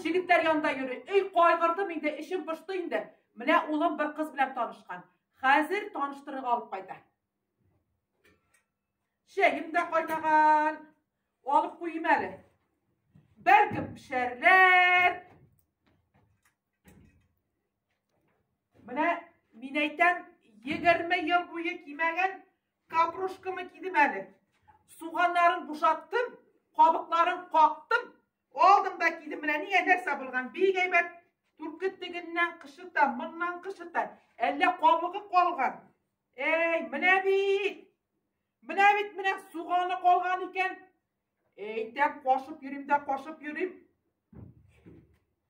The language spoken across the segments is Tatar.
егетләр янында йөри. Өй кайгырдым инде, эшем пошты инде. Менә улым бер кыз белән танышкан. Хәзер таныштырырга алып кайта. Чәем дә кайнаган. Алып куйым әле. Бәлкем пешәрләр. Менә мин әйтәм, 20 ел буе кимәгән капрушкамы кидем әле. Суганнарын бушаттым, кабыкларын кактым, Алдымда киле менә нигә сабылган бик әйбәт. Түркет тегеннән кышыта, моннан кышыта. Әллә кабыгы калган. Әй, менә бит. Менә бит менә суганы калган икән. Әйтәм, кашып йөрим дә кашып йөрим.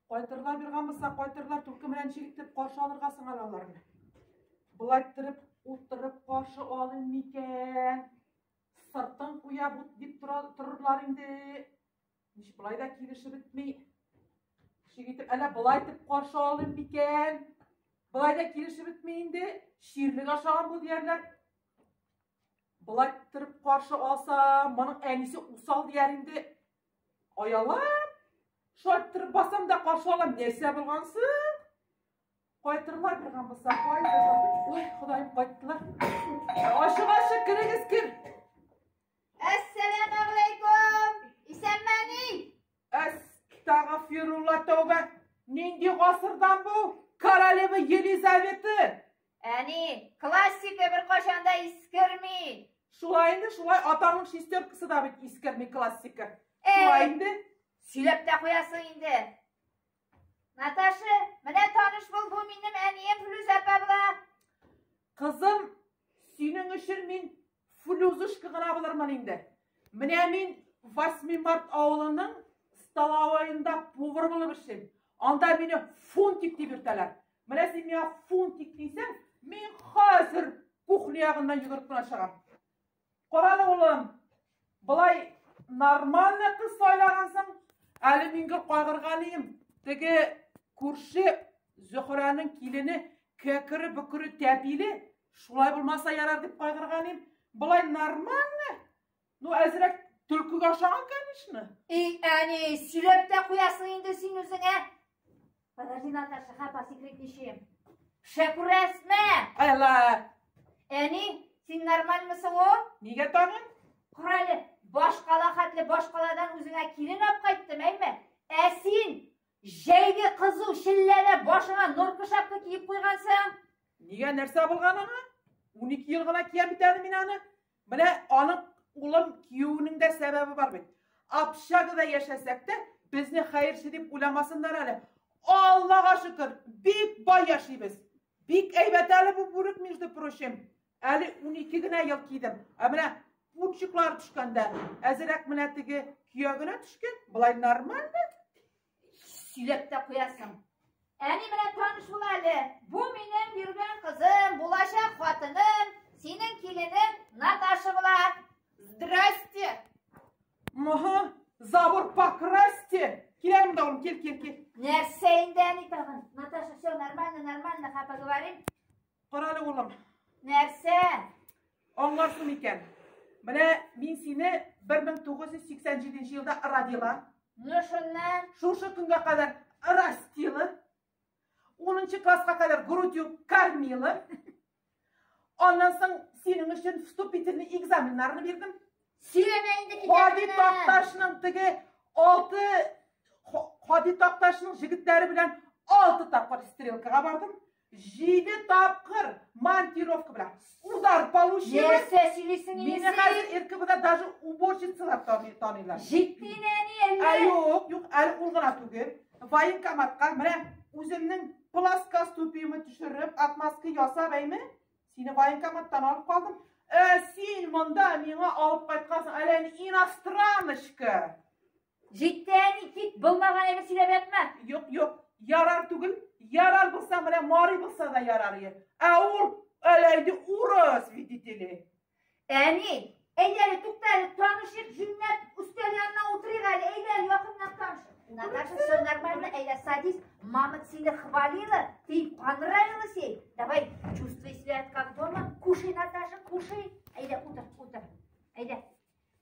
Кайтырлар биргән булса, кайтырлар түрке белән чигитеп каршы алырга сыңар аларны. Болай торып, утырып каршы алыйм микән? Сыртын куя бут дип торырлар инде. Миш былай да килешеп бетми. Шик итеп, әллә былай итеп каршы алыйм микән? Былай да килешеп бетми инде. Ширлек ашаган бу диярләр. Былай торып каршы алса, моның әнисе усал дияр инде. Аялап, шулай торып басам да каршы алам. Нәрсә булгансы? Кайтырлар биргән булса, кайтыр. Ой, Ходаем, кайттылар. Ашыгасы керегез кер. Әссәләмәгәләйкүм! Исәнмени? Әс, тагфирулла тәүбә. Нинди гасырдан бу? Королева Елизавета. Әни, классика бер кашанда искерми. Шулай инде, шулай атаның шестеркасы да бит искерми классика. Шулай инде. Сөйләп тә куясың инде. Наташа, менә таныш бул, бу минем әнием Флүз апа була. Кызым, синең өчен мин Флүзышка гына булырмын инде. Менә мин 8 март авылының столовоенда повар булып эшлим. Анда мине фунтик дип йөртәләр. Менә син миңа фунтик дисәң, мин хәзер кухня ягыннан йөгереп кенә чыгам. Карале улым, болай нормальный кыз сайлагансың. Әле мин гел кайгырганыйм. Теге күрше Зөхрәнең килене кәкере бөкере тәпиле, шулай булмаса ярар дип кайгырганыйм. Болай нормально. Ну, әзрәк төлкегә ошаган, конечно. Эй, әни, сөйләп тә куясың инде син үзеңә. Подожди, Наташа, хапа секрет ничем. Шәкүрәсмә! Ала! Әни, син нормальмысың о? Нигә тагын? Корале, баш кала хәтле баш каладан үзеңә килен алып кайттым, әйме? Ә син җәйге кызу шилләне башыңа норка шапка киеп куйгансың. Нигә нәрсә булган аңа? 12 ел гына кия бит әле мин аны. Менә аның улым киюнең дә сәбәбе бар бит. Общагада яшәсәк тә, безне хәерче дип уйламасыннар әле. Аллага шөкер, бик бай яшибез. Бик әйбәт әле бу бүрек, между прочим. Әле 12 генә ел кидем. Ә менә пучыклар төшкәндә, әзерәк менә теге көягенә төшкән, былай нормально. Сөйләп тә куясың. Әни белән таныш бул әле. Бу минем йөргән кызым, булачак хатыным, синең киленең Наташа була. Здрасте. Мага, забор покрасьте. Киләм дә кил, кил, кил. Нәрсә инде әни тагын? Наташа, все нормально, нормально, ха, поговорим. Карале улым. Нәрсә? Аңларсың икән. Менә мин сине 1987 елда родила. Ну шуннан шушы көнгә кадәр растила. 10 класска кадәр грудью кормила. Аннан соң синең өчен вступительный экзаменнарны бирдем. Сөйләмә инде китәбезне. Хади Такташның теге 6 Хади Такташның җегетләре белән 6 тапкыр стрелкага бардым. Җиде тапкыр монтировка белән удар получили. Нәрсә сөйлисең инде? Мине хәзер РКБда даже уборщицалар таныйлар. Җитди нәни әллә? Ә юк, юк, әле ул гына түгел. Военкоматка менә үземнең пласка ступиемне төшереп, отмазка ясап әйме? Сине военкоматтан алып калдым. Ә син монда миңа алып кайткансың, әле иностраночка. Җитте, әни, кит, булмаган әйбер сөйләп ятма. Юк, юк, ярар түгел, ярар булса менә Мари булса да ярар е. Ә ул әләйде урыс, видите ли. Әни, әйдә әле, тукта әле, танышыйк, җүнләп өстәл янына утырыйк әле, әйдә әле, якыннан танышыйк. Наташа, все нормально, әйдә, садись, мама сине хвалила, ты понравилась ей, давай, чувствуй себя как дома, кушай, Наташа, кушай, әйдә, утыр, утыр, әйдә.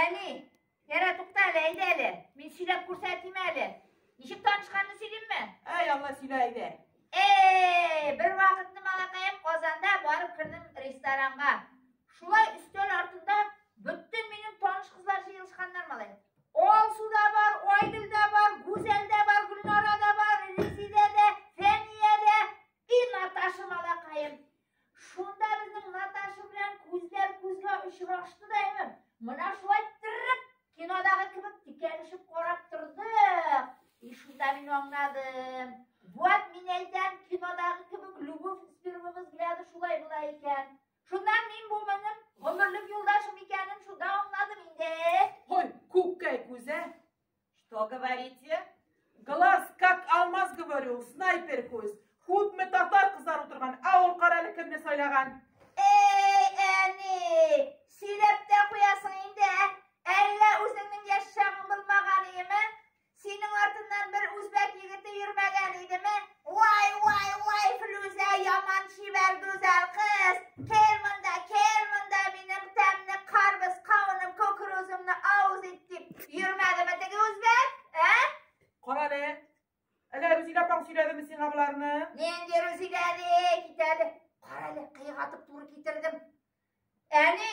Әни, ярә тукта әле, әйдә әле. Мин сөйләп күрсәтим әле. Ничек танышканны сөйлимме? Ә, яңа сөйлә әйдә. Эй, бер вакытны малакаем Казанда барып кердем ресторанга. Шулай өстәл артында бөтен минем таныш кызлар җыелышканнар малай. Алсу да бар, Айгөл дә бар, Гүзәл дә бар, Гөлнара да бар, Резидә дә, Фәния дә и Наташа малакаем. Шунда безнең Наташа белән күзләр күзгә очрашты да инде. Менә шулай тиррек кинодагы кебек тикәлешеп карап тордык. И шунда мин аңладым. Вот мин әйтәм, кинодагы кебек любовь с первого взгляда шулай була икән. Шунда мин бу минем гомерлек юлдашым икәнен шунда аңладым инде. Ой, күккәй күзә, Что говорите? Глаз, как алмаз, говорю, снайпер күз. Худме татар кызлар утырган, ә ул каралы кемне сайлаган? Эй, әни, сөйләп тә куясың инде, ә? Әллә үзеңнең яшь чагың булмаган идеме? Синең артыннан бер үзбәк егете йөрмәгән идеме? Вай, вай, вай, Флүзә яман чибәр гүзәл кыз. Кел монда, кел монда минем тәмне карбыз, кавыным, кукурузымны авыз ит дип. Йөрмәдеме теге үзбәк? Ә? Кара әле. Әле Рузилә апаң сөйләдеме сиңа боларны? Нинди Рузилә ди, китәде. Кара әле, кыйгатып туры китердем. Әни,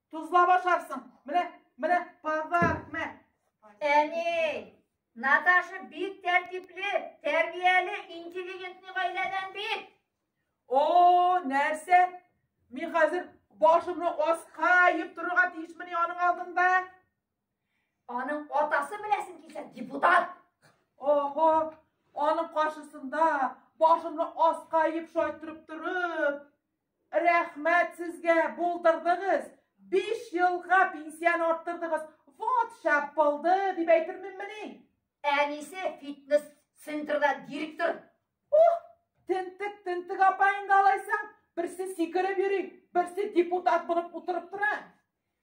Тузлап ашарсың. Менә, менә подарок, мә. Әни, Наташа бик тәртипле, тәрбияле, интеллигентный гаиләдән бит. О, нәрсә? Мин хәзер башымны аска иеп торырга тиешмени аның алдында? Аның атасы беләсең килсә, депутат. Охо, аның каршысында башымны аска иеп шайтырып торып, Рәхмәт сезгә, булдырдыгыз! Биш елга пенсияне арттырдыгыз! Вот шәп булды, дип әйтерменмени? Әнисе фитнес центрда директор. Ух, тентек, тентек апа инде алайса. Берсе сикереп йөри, берсе депутат булып утырып тора.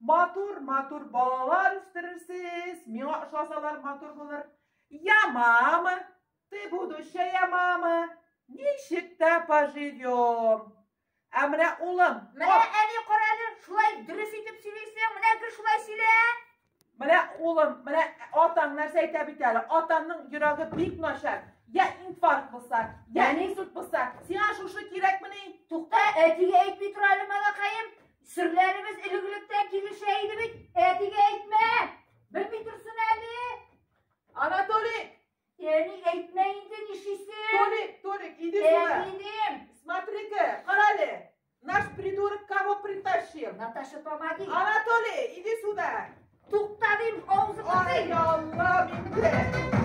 Матур, матур балалар үстерерсез. Миңа ошасалар матур булыр. Я мама, ты будущая мама. Ничек тә поживем. Ә менә улым. Менә әни карале, шулай дөрес итеп сөйлисең. Менә гел шулай сөйлә. Менә улым, менә атаң нәрсә әйтә бит әле. Атаңның йөрәге бик начар. Я инфаркт булса, я инсульт булса, сиңа шушы кирәкмени? Тукта, әтигә әйтми тора әле, малакаем. Серләребез элегректә килешә иде бит. Әтигә әйтмә. Белми торсын әле. Анатолий, Әни әйтмә инде нишисен. Толик, Толик, иди сюда. Әтидем. Смотри-ка, карале. Наш придурок кого притащил? Наташа, помоги. Анатолий, иди сюда. Туктадым, авызыңа. Ай, Аллам инде.